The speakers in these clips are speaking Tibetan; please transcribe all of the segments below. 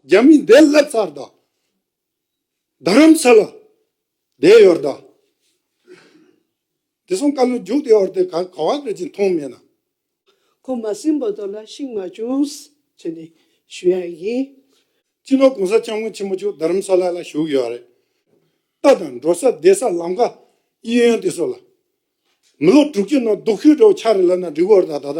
རྒྱ་མི་འདས་སླེབས་ཚར་དྭ། རྡ་རམ་ས་ལ་འདས་ཡོད་དྭ། དེ་སོང་ཀ་ལུ་རྒྱུག་དེ་ཡོར་དེ་ག་བ་བེད་ཅིང་མཐོང་མེད་ན། ཁོ་མ་སིམ་པོ་དོ་ལ་ཤིང་མ་བྱུང། ཅེས་ནས་ཞུ་ཡ་ཡིན། སྤྱི་ནོར་གོང་ས་སྐྱབས་མགོན་ཆེན་པོ་མཆོག་རྡ་རམ་ས་ལ་ལ་བཞུགས་ཡོད་རེད་ད་དང་འགྲོ་ས་བསྡད་ས་ལམ་ཁ་དབྱི་ཡོན་དེ་སོགས་ལ། མི་ལོ་དྲུག་ཅུ་ནང་སྡུག་ཤོས་འདྲ་བོ་ཆགས་རེད་ལབ་ན་འགྲིག་གོ་རེད་ད་ད།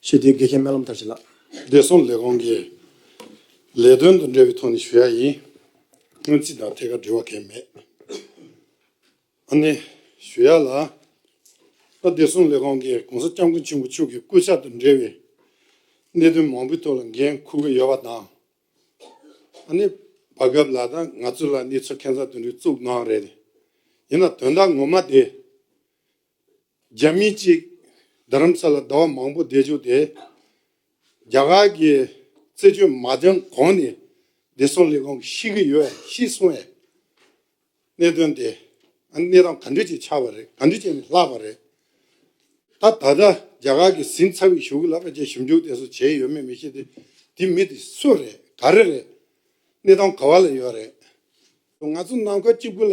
ཞེས་དེའི་དགེ་རྒན་སྨན་ལམ་དར་ཅན་ལགས། བདེ་སྲུང་ལས་ཁུངས་ཀྱི་ལས་དོན་དང་འབྲེལ་བའི་ཐོག་ནས་ཞུ་ཡག་ཡིན། སྔོན་རྩིས་དང་ཐད་ཀར་འབྲེལ་བ་གལ་མེད། ཨ་ནེ། ཞུ་ཡག་ལགས། ད་བདེ་སྲུང་ལས་ཁུངས་ཀྱི་གོང་ས་སྐྱབས་མགོན་ཆེན་པོ་མཆོག་གི་སྐུ་ཕྱག་དང་འབྲེལ་བའི་གནད་དོན་མང་པོའི་ཐོག་ལ་འགན་འཁུར་གྱི་ཡོད་པ་དང། ཨ་ནེ། བར་སྐབས་ལ་དྭགས་ང་ཚོ་ལ་གནས་ཚུལ་ཁྱད་མཚར་དོན་འགྲེལ་བཙུགས་གནང་བ་རེད། ཡིན་ན་དོན་དག་ངོ་མ་དེ། རྒྱ་མི་གཅིག་རྡ་རམ་ས་ལ་ཟླ་བ་མང་པོ་བསྡད་བཅུག་སྟེ། རྒྱ་གར་གྱི་རྩད་གཅོད་མ་འདོན་གོང་ནས་བདེ་སྲུང་ལས་ཁུངས་ཤི་གི་ཡོད་ཤི་གསུང་བའི་གནད་དོན་དེ་གནས་སྟངས་ག་འདྲི་བྱས་ཆགས་པ་རེད་ག་འདྲི་བྱས་ནས་ལྷག་པ་རེད། ད་ད་ལྟ་རྒྱ་གར་གྱི་ཟིན་ཚ་བའི་ཞུགས་ལ་བཅས་ཞིབ་འཇུག་དེ་ཚོ་བྱས་ཡོད་མེད་མི་ཤེས་ཏེ་དེ་མི་དེ་སུ་རེད་ག་རེ་རེད་གནས་སྟངས་ག་བ་ལ་ཡོད་རེད། ང་ཚོ་ནང་ཁུལ་གཅིག་པུ་ལ་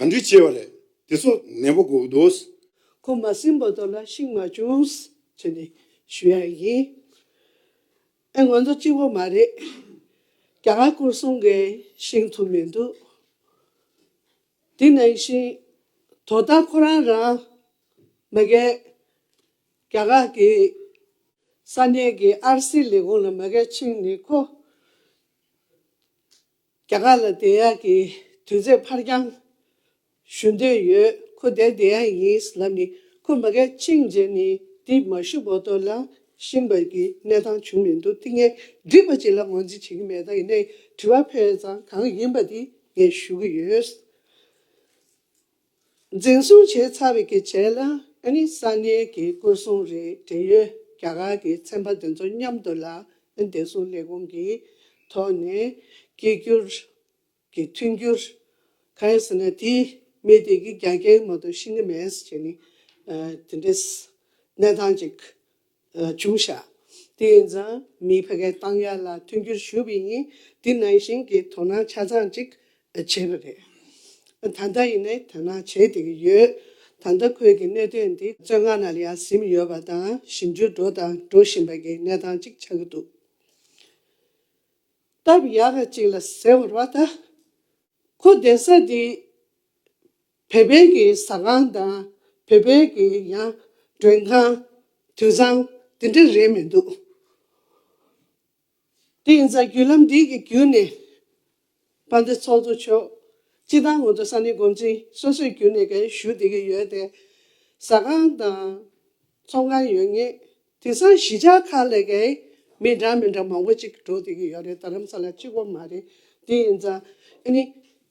ག་འདྲི་བྱས་བ་རེད་དེ་ཚོ་ནད་པོ་གོ་དོས། ཁོ་མ་སྲིན་པོ་དོ་ལ་ཤིང་མ་བྱུངས། ཅེས་ནས་ཞུ་ཡ་ཡིན། ཨེ་ང་ཚོ་གཅིག་པོ་མ་རེད། རྒྱ་གར་སྐོར་གསུམ་མཁན་ཤིང་ཐུབ་མི་འདུག། དེ་ནང་བཞིན་དོ་ད་ཁོ་རང་རང་མི་དགའ། རྒྱ་གར་གི་ས་གནས་ཀྱི་ཨར་སི་ལས་ཁུངས་ལ་མི་དགའ་ཕྱིན་ནས་ཁོ། རྒྱ་གར་ལ་བདེ་ཡག་གི་དུས་ཚེས་ཕར་འགྱང་ཞུ་འདོད་ཡོད་ཁུ་དེ་བདེ་ཡག་ཡིན་ལབ་ནི་ཁུ་མ་གལ་ཕྱིན་རྗེས་ནི་འདི་མ་ཞུ་བོ་དོ་ལ་ཤིང་བར་གི་གནས་སྟངས་བྱུང་མི་འདུག་ཏི་ངས་འདྲི་བ་ཅི་ལ་ངོས་འཛིན་བྱེད་ཀྱི་མེད་ད་ཡིན་ནའི་དྲི་བ་ཕེ་ཙང་གང་ཡིན་པ་དེ་ངས་ཞུ་གི་ཡོད། འཛིན་བཟུང་བྱས་ཚར་བའི་གི་བྱེད་ལ་ནི་ས་གནས་ཀྱི་སྐུ་སྲུང་རིགས་འབྲེལ་ཡོད་རྒྱ་གར་གྱི་ཚན་པ་དེ་ཚོ་མཉམ་དུ་ལ་ནི་བདེ་སྲུང་ལས་ཁུངས་ཀྱི་ཐོག་ནས་སྐྱེལ་རྒྱུར་གི་མཐུན་འགྱུར། གང་ཡིན་ཟེར་ན་དེ་མི་དེ་གི་རྒྱ་རྒྱའི་ངོ་དུ་ཤི་ནི་མེད་ཟེར་ནི་དེ་འདྲའི་གནས་སྟངས་ཅིག་བྱུང་ཞག་དེ་ཡིན་ཙང་མིའི་བྷ་གའི་ཏང་ཡག་ལ་མཐུན་འགྱུར་ཞུ་བའི་ཉིན་དེ་ནང་བཞིན་གྱི་དོ་སྣང་ཆ་ཚང་ཅིག་བྱས་པ་རེད། ད་ལྟ་ཡིན་ནའི་དོ་སྣང་བྱེད་བསྡད་ཀྱི་ཡོད། ད་ལྟ་ཁོས་ཀྱི་གནད་དོན་འདི་བཙོན་ཁང་ནང་ལ་ཡར་ཟིམ་ཡོད་པ་དང་ཞིབ་འཇུག་འགྲོ་དང་འགྲོ་བཞིན་པ་གྱི་གནས་སྟངས་ཅིག་ཆགས་ཀྱི་འདུག་སྟབས་ཡག་ག་ཅིག་ལ་ཟེར་བར་བ་ད་ཁོ་གདན་ས་འདིའི་བོད་དཔོན་གྱི་ཟ་ཁང་དང་བོད་དཔོན་གྱི་ཡང་མགྲོན་ཁང། དུད་ཚང། དེ་འདྲ་རེད་མི་འདུག། དེ་ཡིན་ཙང་བརྒྱུད་ལམ་འདི་གི་བརྒྱུད་ནས་བ་འདི་ཚོགས་གཙོ་མཆོག་སྤྱི་བཏང་ངོ་ཚ་ས་ནི་འགོ་འཛིན་སོ་སོས་བརྒྱུད་ནས་ག་རེ་ཞུ་བསྡད་ཀྱི་ཡོད་དེ། ཟ་ཁང་དང་ཚོགས་ཁང་ཡོད་ངེས། དེང་སང་གཞིས་ཆགས་ཁག་ལས་ཀའི་མི་འདྲ་མི་འདྲ་མང་པོ་ཅིག་འགྲོ་བསྡད་ཀྱི་ཡོད་རེད་ད་རམ་ས་ལ་གཅིག་པོ་མ་རེད་དེ་ཡིན་ཙང་ཨཱ་ནི་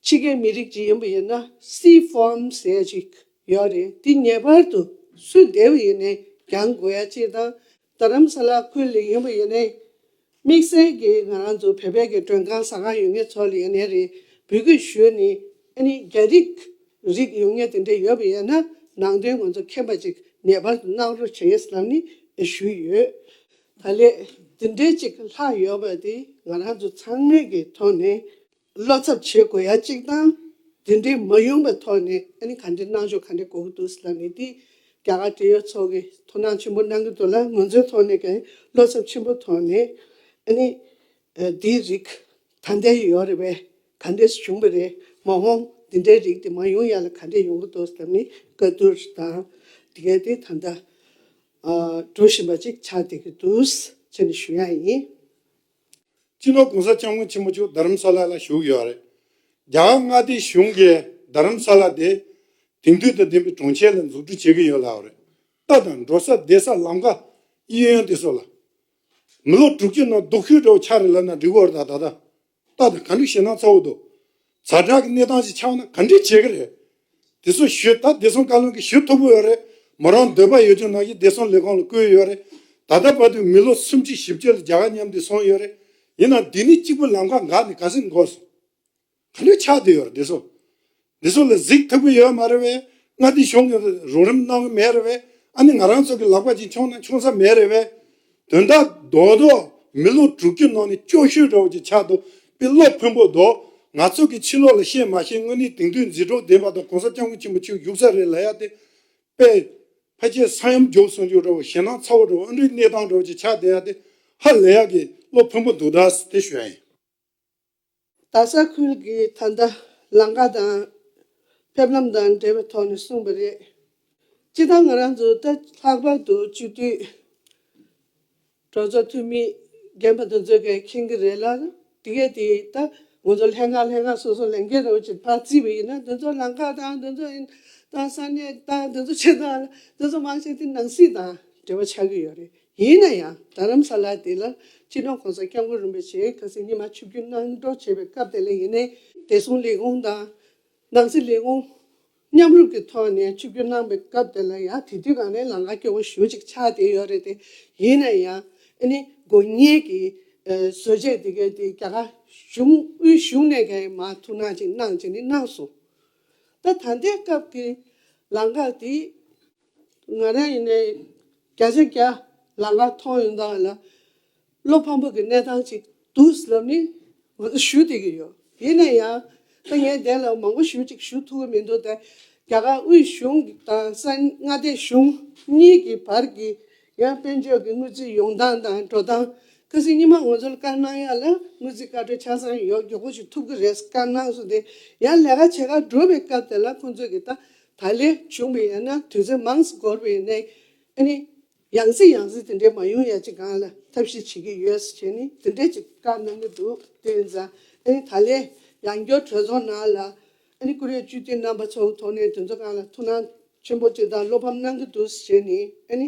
ཕྱི་རྒྱལ་མི་རིགས་ཅིག་ཡིན་པ་ཡིན་ན་སི་ཧྥོན་ཟེར་ཡ་ཅིག་ཡོད་རེད་དེ་ངེས་པར་དུ་སུས་འདེབས་ཡིན་ནས་གྱང་དགོས་ཡ་ཅིག་དང་ད་རམ་ས་ལ་ཁུལ་ལས་ཡིན་པ་ཡིན་ནས། དམིགས་བསལ་གྱིས་ང་རང་ཚོ་བོད་པའི་གི་མགྲོན་ཁང་ཟ་ཁང་ཡོད་ངེས་ཚོ་ལ་ཡོད་ནའི་རེ་འབུལ་གི་ཞུས་ནས་ཨ་ནི་རྒྱ་རིགས་རིགས་ཡོད་ངེས་དེ་འདྲ་ཡོད་པ་ཡིན་ན་ནང་དོན་ང་ཚོ་མཁྱེན་པ་ཅིག་ངེས་པར་དུ་གནང་རོགས་བྱེད་ངེས་ལབ་ནས་ཞུས་ཡོད། ད་ལས་དེ་འདྲའི་ཅིག་ལྷག་ཡོད་པ་དེ་ང་རང་ཚོ་ཚང་མའི་གི་ཐོག་ནས་བློ་འཚབ་བྱེད་དགོས་ཡ་གཅིག་དང། དེ་འདྲའི་མ་ཡོང་པའི་ཐོག་ནས་ཨ་ནི་ག་འདྲའི་གནང་ཕྱོགས་ག་འདྲའི་གོ་གི་འདུག་ཟེར་ལ་ནི་དེས་རྒྱ་གར་འབྲེལ་ཡོད་ཚོགས་ཀྱིས་དོ་སྣང་ཆེན་པོ་གནང་གི་འདུག་ལ་ང་ཚོའི་ཐོག་ནས་ཀྱང་བློ་འཚབ་ཆེན་པོ་ཐོག་ནས་ཨ་ནི་འདིའི་རིགས་ད་ལྟའི་ཡོད་རེད་པས་ག་འདྲས་སུ་བྱུང་བ་རེད་མ་འོངས་འདི་འདྲའི་རིགས་དེ་མ་ཡོང་ཡ་ལ་ག་འདྲས་ཡོང་གི་འདུག་ཟེར་ལ་ནི་བཀའ་བསྡུར་དང་དེ་གས་དེ་ད་ལྟ་འགྲོ་བཞིན་པ་ཅིག་ཆགས་བསྡད་ཀྱི་འདུག་ཟེར་ནས་ཞུ་ཡ་ཡིན། སྤྱི་ལོ་གོང་ས་སྐྱབས་མགོན་ཆེན་པོ་མཆོག་རྡ་རམ་ས་ལ་ལ་བཞུགས་ཡོད་རེད། རྒྱ་གར་མངའ་སྡེའི་གཞུང་གིས་རྡ་རམ་ས་ལ་དེ་དེང་དུས་དང་ལྡན་པའི་གྲོང་ཁྱེར་ལ་འཛུགས་སྐྲུན་བྱེད་ཀྱི་ཡོད་ལབ་རེད། ལྟ་དང་འགྲོ་ས་བསྡད་ས་ལམ་ཀ་དབྱི་ཡོན་དེ་སོགས་ལ། མི་ལོ་དྲུག་ཅུ་ནང་རྡོ་ཁུལ་འདྲ་བོ་ཆགས་རེད་ལབ་ན་འགྲིག་གོ་རེད་ད་ལྟ། ལྟ་དང་ག་འགྲིག་ཞེད་སྣང་ཚ་བོ་འདུག། ཛར་ཁྲག་གི་གནས་སྟངས་ཤིག་ཆགས་ན་ག་འདྲི་བྱེད་ཀྱི་རེད། དེ་ཚོ་ཞུས་ད་བདེ་སྲུང་བཀའ་བློན་གྱི་ཞུ་ཐུབ་པོ་ཡོད་རེད་མོ་རང་འདོད་པ་ཡོད་ཀྱང་ནང་གི་བདེ་སྲུང་ལས་ཁང་ལ་བསྐུལ་ཡོད་རེད་ད་ལྟ་བར་དུ་མི་ལོ་སུམ་གཅིག་བཞི་བཅུ་ལ་རྒྱ་གར་ཉམས་དུས་སོང་ཡོད་རེད་ཡིན་ནང་འདི་ནི་གཅིག་པུ་ལམ་ཁ་འགག་ནས་ག་ཟིག་འགོ་སོང་ག་འདྲི་ཆགས་དུ་ཡོད་རེད་བདེ་སྲུང་བདེ་སྲུང་ལ་གཟིགས་ཐུབ་ཀྱི་ཡོད་མ་རེད་བས་མངའ་སྡེ་གཞུང་གིས་རོགས་རིམ་གནང་གི་མེད་རེད་བས་ཨ་ནི་ང་རང་ཚོ་གི་ལག་པ་གཅིག་འཆོངས་ན་འཆོངས་ས་མེད་རེད་བས། དོན་དག་རྡོག་རྡོག་མི་ལོ་དྲུག་ཅུ་ནང་ནས་ཅོ་ཤུ་རོགས་ཀྱི་ཆ་དོ་པི་ལོག་ཕོན་པོ་རྡོག་ང་ཚོ་གི་ཕྱི་ལོག་ལ་བཤད་མ་ཤེས་དངོས་གནས་དེང་དུས་མཛེས་གྲོགས་བདེན་པ་དང་གོང་ས་སྐྱབས་མགོན་ཆེན་པོ་ཆོས་བཞུགས་ས་རེད་ལ་ཡ་དེ་པེ་ཕ་ཁྱེད་ས་ཡོམ་རྒྱོབ་སོང་རྒྱུ་རོགས་ཞེད་སྣང་ཚ་བོ་རོགས་ཨ་འབྲུའི་གནས་སྟངས་རོགས་ཀྱི་ཆ་དེ་ཡ་དེ་ཧ་ལས་ཡ་གི་ལོ་ཕོན་པོ་འདུག་ད་སི་ཐེ་ཞོན་ཡིན། རྡ་ས་ཁུལ་གྱི་ད་ལྟ་ལང་ཀ་དང་ཕེབས་ལམ་དང་འབྲེལ་བའི་ཐོག་ནས་གསུངས་པ་རེད། སྤྱི་བཏང་ང་རང་ཚོ་ད་ལྷག་པར་དུ་སྤྱི་འཐུས་གྲོས་ཚོགས་འཐུས་མི་རྒན་པ་དེ་ཚོའི་སྐད་མཁྱེན་གྱི་རེད་ལ། དེ་གས་དེ་ད་ང་ཚོ་ལྷན་ཁང་ལྷན་ཁང་སོ་སོ་ལས་འགན་རེའུ་ཆིག་ཕར་བརྩིས་པ་ཡིན་ན་དེ་ཚོ་ལང་ཀ་དང་དེ་ཚོ་དང་ས་གནས་དང་དེ་ཚོ་ཆེད་དང་དེ་ཚོ་མང་ཆེ་དེ་ནང་སྲིད་དང་འབྲེལ་བ་ཆགས་ཀྱི་ཡོད་རེད། ཡིན་ན་ཡང་རྡ་རམ་ས་ལ་དེ་ལ་སྤྱི་མཐུན་གོང་ས་སྐྱབས་མགོན་རིན་པོ་ཆེས་ག་ཚོད་སྙེ་མ་ཆུ་རྒྱུན་གནང་གྲོགས་བྱས་པའི་སྐབས་དེ་ལ་ཡིན་ནའི་བདེ་སྲུང་ལས་ཁུངས་དང། ནང་སྲིད་ལས་ཁུངས། མཉམ་རུབ་ཀྱི་ཐོག་ནས་ཆུ་རྒྱུན་གནང་པའི་སྐབས་དེ་ལ་ཡང་དེ་དུས་གང་ནས་ལང་ཀ་སྐྱོ་བོ་ཞུ་ཅིག་ཆགས་བསྡད་ཡོད་རེད་དེ། ཡིན་ན་ཡང་ཨ་ནི་དགོས་ངེས་ཀྱི་བཟོ་བཅད་དེ་གའི་དེ་རྒྱ་གར་གཞུང་དབུས་གཞུང་ནས་ག་ཡིན་མ་ཐུག་གནང་ཅིག་གནང་ཅིག་ནི་གནང་སོང། ད་ད་ལྟའི་སྐབས་ཀྱི་ལང་ཀ་དེ་ང་རང་ཡིན་ནའི་བརྒྱ་ཆ་བརྒྱ་ལག་ལ་ཐོགས་ཡོང་དང་ལ་བློ་ཕམ་པོ་གི་གནས་སྟངས་ཅིག་འདུག་ཟེར་ལབ་ནི་ང་ཚོ་ཞུ་བསྡད་ཀྱི་ཡོད་ཡིན་ན་ཡང་ད་ངས་བསྡད་ལབ་མང་པོ་ཞུ་གཅིག་ཞུ་ཐུབ་ཀྱི་མི་འདུག་ད་རྒྱ་གར་དབུས་གཞུང་དང་ས་མངའ་སྡེ་གཞུང་གཉིས་ཀྱི་བར་གྱི་ཡང་དཔོན་ཕྱོགས་ཀྱི་དངུལ་རྩིས་ཡོང་སྟངས་དང་འགྲོ་སྟངས་ཀ་སི་གཉིས་མ་ང་ཚོ་ལ་བཀར་གནང་ཡག་ལ་དངུལ་རྩིས་བཀའ་འཁྲོལ་ཆ་ཚང་ཡོག་མགྱོགས་པོ་ཞིག་ཐུབ་ཀྱི་རེད་བཀར་གནང་སོང་དེ་ཡང་ལས་ཀ་བྱེད་ཁག་འགྲོ་བའི་སྐབས་དེ་ལ་ཁོང་ཚོས་ཀྱི་ད་ད་ལས་བྱུང་བའི་ཡང་ན་དུས་ཚོད་མང་སུ་འགོར་བའི་གནས་ཨེ་ནི། ཡང་སྲིད་ཡང་སྲིད་དེ་འདྲས་མ་ཡོང་ཡ་ཅི་གང་ལ་ཐབས་ཤེས་བྱེད་ཀྱི་ཡོད་སུ་བྱས་ནི་དེ་འདྲས་ཀྱི་བཀའ་གནང་གི་འདུག་དེ་བས་འཛའ་ཨེ་ནི་ད་ལས་ཡང་སྐྱོར་གྲོས་ཚོགས་ནང་ལ་ཨེ་ནི་བཀུར་འོས་བཅུ་བདུན་རྣམ་པ་ཚོའུ་ཐོག་ནས་དུས་ཚོད་གང་ལ་ཐུགས་སྣང་ཆེན་པོ་དེ་དག་བློ་ཕམ་གནང་གི་འདུག་སུ་བྱས་ནི་ཨེ་ནི།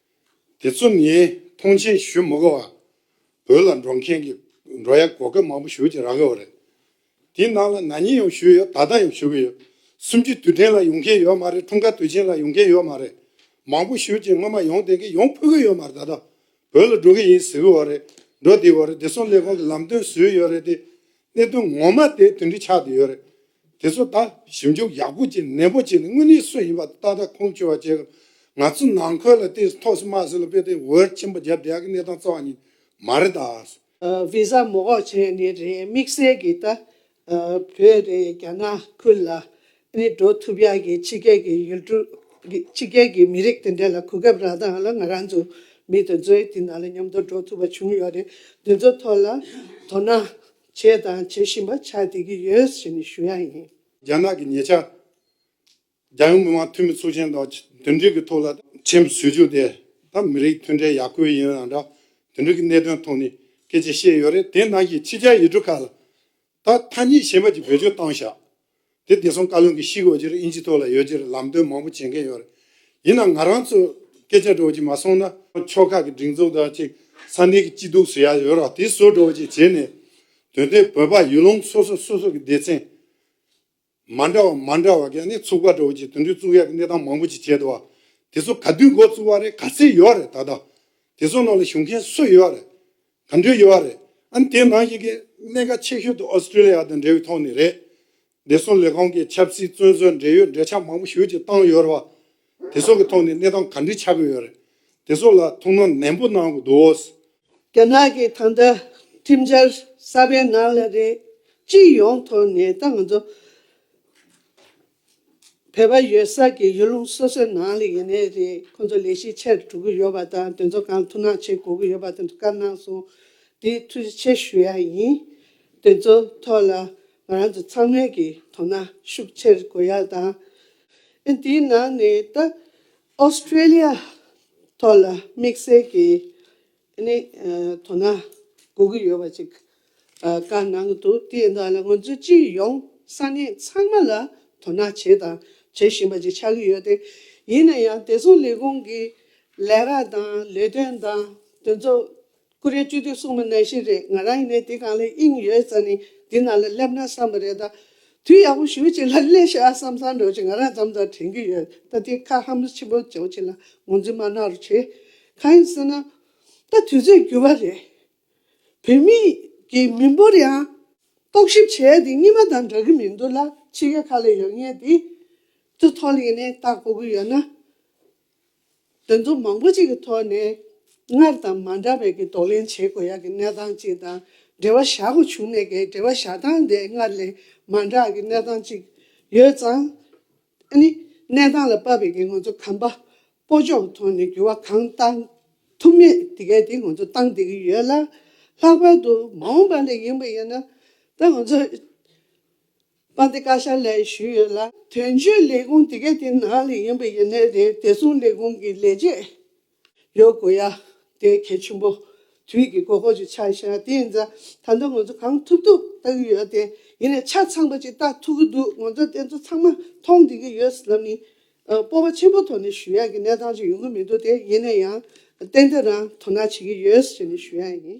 དེ་ཚོ་ནི་ཐོངས་མཆན་ཞུ་མི་དགོས་པར་བོད་ལ་འགྲོ་མཁན་གྱི་འགྲོ་ཡ་གོ་སྐབས་མང་པོ་ཞུ་བྱེད་རག་གི་ཡོད་རེད། དེའི་ནང་ལ་ན་ནིང་ཡང་ཞུས་ཡོད་ད་ལྟ་ཡང་ཞུ་གི་ཡོད། སུམ་ཅུ་དུས་དྲན་ལ་ཡོང་མཁན་ཡོད་མ་རེད་འཁྲུངས་སྐར་དུས་ཆེན་ལ་ཡོང་མཁན་ཡོད་མ་རེད། མང་པོ་ཞུ་བྱེད་སྔོན་མ་ཡོང་དེ་གིན་ཡོང་ཕོད་གི་ཡོད་མ་རེད་ད་ལྟ་བོད་ལ་འགྲོ་གི་ཡིན་ཟེར་གི་ཡོད་རེད། འགྲོ་དེ་ཡོད་རེད་དེ་སོང་ལས་ཁུངས་ཀྱི་ལམ་སྟོན་ཟོས་ཡོད་རེད་དེ། གནད་དོན་ངོ་མ་དེ་དོན་འདི་ཆགས་བསྡད་ཡོད་རེད། དེ་ཚོ་ད་ཞིབ་འཇུག་ཡག་པོ་བྱེད་ནན་པོ་བྱས་ནས་དངོས་གནས་སུ་ཡིན་པ་ཏག་ཏག་ཁུངས་འཁྱོལ་བ་བྱས་དགོས། ང་ཚོ་ནང་ཁུལ་ལ་བལྟས་སུ་ཐོག་སུ་མ་སུ་ལ་དཔེ་དེབ་འོད་ཆེན་པོ་བརྒྱབ་བསྡད་ཀྱི་གནས་སྟངས་རྩ་བ་ཉིད་མ་རེད་ད། Visa མོག་བྱས་ནི་རེད་དམིགས་བསལ་གྱི་ད་བོད་རེད་རྒྱ་ནག་ཁུལ་ལ་ནི་འགྲོ་ཐུབ་ཡག་གི་ཕྱི་རྒྱལ་གྱི་ཡུལ་གྲུ། ཕྱི་རྒྱལ་གྱི་མི་རིགས་དེ་འདྲ་ལ་གོ་སྐབས་རག་སྟངས་ལ་ང་རང་ཚོ་མི་དེ་ཚོའི་དེ་ནང་ལ་མཉམ་དུ་འགྲོ་ཐུབ་པ་བྱུང་ཡོད་རེད་དེ་ཚོ་ཐོག་ལ་དོ་སྣང་བྱས་དང་བྱེད་བཞིན་པ་ཆགས་བསྡད་ཀྱི་ཡོད་ཞེས་ནི་ཞུ་ཡ་ཡིན། རྒྱ་ནག་གི་ཉེ་ཆར། རྒྱལ་ཡོངས་མི་དམངས་འཐུས་མི་ཚོགས་ཆེན་དང་དོན་འགྲིག་གི་ཐོག་ལ་ཁྲིམས་བཟོས་རྒྱུ་དེ་དང་མི་རིགས་མཐུན་འབྲེལ་ཡག་དགོས་ཡིན་ཡང་འདྲ་དོན་འགྲིག་གི་གནད་དོན་ཐོག་ནས་སྐད་ཆ་བཤད་ཡོད་རེད་དེ་ནང་གི་ཕྱི་རྒྱལ་ཡུལ་གྲུ་ཁག་ལ་ད་ཐ་སྙད་གཞན་པ་གྱི་བེད་སྤྱོད་བཏང་བཞག་དེ་བདེ་སྲུང་བཀའ་བློན་གྱི་ཤིག་འོ་ཅེར་ཨིན་ཇི་ཐོག་ལ་ཡོད་ཅེར་ལམ་སྟོན་མང་པོ་བྱེད་མཁན་ཡོད་རེད་ཡིན་ནང་ང་རང་ཚོས་སྐད་ཆ་སྒྲོག་ཅིག་མ་སོང་ན། ཕྱོགས་ཁག་གི་སྒྲིག་འཛུགས་དང་ཅིག་ས་གནས་ཀྱི་སྐྱིད་སྡུག་བཟོ་ཡ་ཡོད་རོགས་དེ་བཟོ་སྒྲོག་ཅིག་བྱེད་ནས། དོན་དེ་བོད་པ་ཡུལ་ལུང་སོ་སོ་སོ་སོ་གི་སྡེ་ཚན། མ་འདྲ་བ་མ་འདྲ་བ་གས་ནི་ཚུགས་པ་འདྲ་བོ་ཅིག་དུད་འགྲོའི་གཙུག་ཡག་གི་གནས་སྟངས་མང་པོ་ཅིག་བྱས་འདུག་དེ་ཚོ་ག་དུས་འགོ་བཙུགས་བ་རེད་ག་ཚད་ཡོད་བ་རེད་ད་ལྟ་དེ་ཚོ་ནང་ལ་ཞུགས་མཁན་སུ་ཡོད་བ་རེད་ག་འདྲས་ཡོད་བ་རེད་ཨང་དེ་ནང་བཞིན་གྱི་གནད་ཀ་ཆེ་ཤོས་དུ Australia དང་འབྲེལ་བའི་ཐོག་ནས་རེད་བདེ་སྲུང་ལས་ཁང་གི་ཆབ་སྲིད་བཙོན་ཟུར་འབྲེལ་ཡོད་འབྲེལ་ཆགས་མང་པོ་ཞུགས་ཀྱིས་བཏང་ཡོད་བ། དེ་ཚོ་གི་ཐོག་ནས་གནས་སྟངས་ག་འདྲའི་ཆགས་ཀྱི་ཡོད་རེད། དེ་ཚོ་ལ་ཐུགས་སྣང་ནན་པོ་གནང་གི་འདུག། རྒྱ་ནག་གི་ཐང་ད་ཁྲིམས་འཆར་གསར་པའི་ནང་ལ་རེད། སྤྱི་ཡོངས་ཐོག་ནས་ད་ང་ཚོ་བོད་པ་ཡོད་ས་ཀྱི་ཡུལ་ལུང་སོ་སོའི་ནང་ལ་ཡིན་ནའི་རེད་ཁོང་ཚོ་ལས་གཞི་ཆེར་གྲུབ་ཀྱི་ཡོད་པ་དང་དེ་ཚོ་གང་ཐུགས་སྣང་བྱེད་དགོས་ཀྱི་ཡོད་པ་དེ་འདྲ་བཀའ་གནང་སོང་དེ་ཐུགས་རྗེ་ཆེ་ཞུ་ཡ་ཡིན། དེ་ཚོ་ཐོག་ལ་ང་རང་ཚོ་ཚང་མས་ཀྱི་དོ་སྣང་ཤུགས་ཆེར་དགོས་ཡ་དང། དེའི་ནང་ནས་ད་ཨོ་སི་ཀྲེ་ལི་ཡ་ཐོག་ལ་དམིགས་བསལ་གྱི་དོ་སྣང་དགོས་ཀྱི་ཡོད་པ་ཅིག་བཀའ་གནང་འདུག་དེས་ན་ང་ཚོ་སྤྱི་ཡོངས་ས་གནས་ཚང་མ་ལ་དོ་སྣང་བྱས་དང་བྱེད་བཞིན་པ་ཅིག་ཆགས་ཀྱི་ཡོད་དེ། ཡིན་ན་ཡང་བདེ་སྲུང་ལས་ཁུངས་ཀྱི་ལས་ཀ་དང་ལས་དོན་དང་དོན་གཙོ་ཀུ་རེ་བཅུ་དུས་གསུངས་མ་ནང་བཞིན་རེད་ང་རང་ཡིན་ནའི་དེ་གང་ལས་དབྱིངས་ཡོད་ཙང་ནི་འདི་ནང་ལ་སླེབས་ན་བསམ་པ་རེད་ད། དུས་ཡག་པོ་ཞུ་བྱེད་ལ་སླེ་ཤག་བསམ་བསམ་འགྲོ་བྱེད་ང་རང་འཛམ་ཙམ་དྲན་གྱི་ཡོད་ད་དེ་ཁ་ཧམ་ཆེན་པོ་བྱེད་བྱེད་ལ་ངོ་འཛིན་མ་གནང་རོགས་བྱེད། གང་ཡིན་ཟེར་ན། ད་དུས་ཚོད་འགྱུར་བ་རེད། བོད་མི་ཡི་མི་འབོར་ཡང། རྟོག་ཞིབ་བྱས་དེ་གཉིས་མ་དང་འདྲ་གི་མི་འདུག་ལ་ཕྱི་རྒྱལ་ཁག་ལ་ཡོད་ངེས་དེ། དུ་ཐོག་གླེང་ནས་བརྟག་པོ་གི་ཡོད་ན། དོན་དུ་མང་པོ་ཅིག་གི་ཐོག་ནས་སྔར་དང་མ་འདྲ་བའི་ཀྱི་འདོར་ལེན་བྱེད་དགོས་ཡག་གི་གནས་སྟངས་ཅིག་དང་འབྲེལ་བ་བཞག་དགོས་བྱུང་གནས་ཀྱི་འབྲེལ་བ་བཞག་སྟངས་དེ་སྔར་ལས་མ་འདྲ་བ་ཀྱི་གནས་སྟངས་ཅིག་ཡོད་ཙང། ཨ་ནི། གནས་སྟངས་ལ་དཔག་པའི་ཀྱི་ང་ཚོ་གམ་པ་པོ་ཕྱོགས་ཐོག་ནས་འགྱུར་བ་གང་གཏང་ཐུབ་མེད་དེ་གས་དེ་ང་ཚོ་གཏང་བསྡད་ཀྱི་ཡོད་ལ། ལྷག་པར་དུ་མ་འོངས་པ་ལ་ཡིན་པ་ཡིན་ན་ད་ང་ཚོ་པ་འདི་བཀའ་ཤག་ལས་ཞུས་ཡོད་ལ་དོན་གཅོད་ལས་ཁུངས་དེ་གའི་དེའི་ནང་ལས་ཡིན་པ་ཡིན་ནའི་རེད་དེ་མཚུངས་ལས་ཁུངས་ཀྱི་ལས་བྱེད་ཡོད་དགོས་ཡ་དེ་གལ་ཆེན་པོ་དུས་ཀྱི་དགོས་མཁོ་ཞིག་ཆགས་ཤག་དེ་ཡིན་ཙང་ད་ལྟ་ང་ཚོ་གང་ཐུབ་ཐུབ་བལྟ་གི་ཡོད་དེ་ཡིན་ནའི་ཆ་ཚང་པ་ཅིག་བལྟ་ཐུབ་ཀྱི་འདུག་ང་ཚོ་དེ་ཚོ་ཚང་མ་མཐོང་བསྡད་ཀྱི་ཡོད་ཟེར་ན་མི་སྤོབས་པ་ཆེན་པོ་ཐོག་ནས་ཞུ་ཡག་གི་གནས་སྟངས་ཅིག་ཡོང་གི་མི་འདུག་དེ་ཡིན་ནའི་ཡང་ཏན་ཏན་རང་དོ་སྣང་བྱེད་ཀྱི་ཡོད་ཟེར་ནས་ཞུ་ཡག་ཡིན།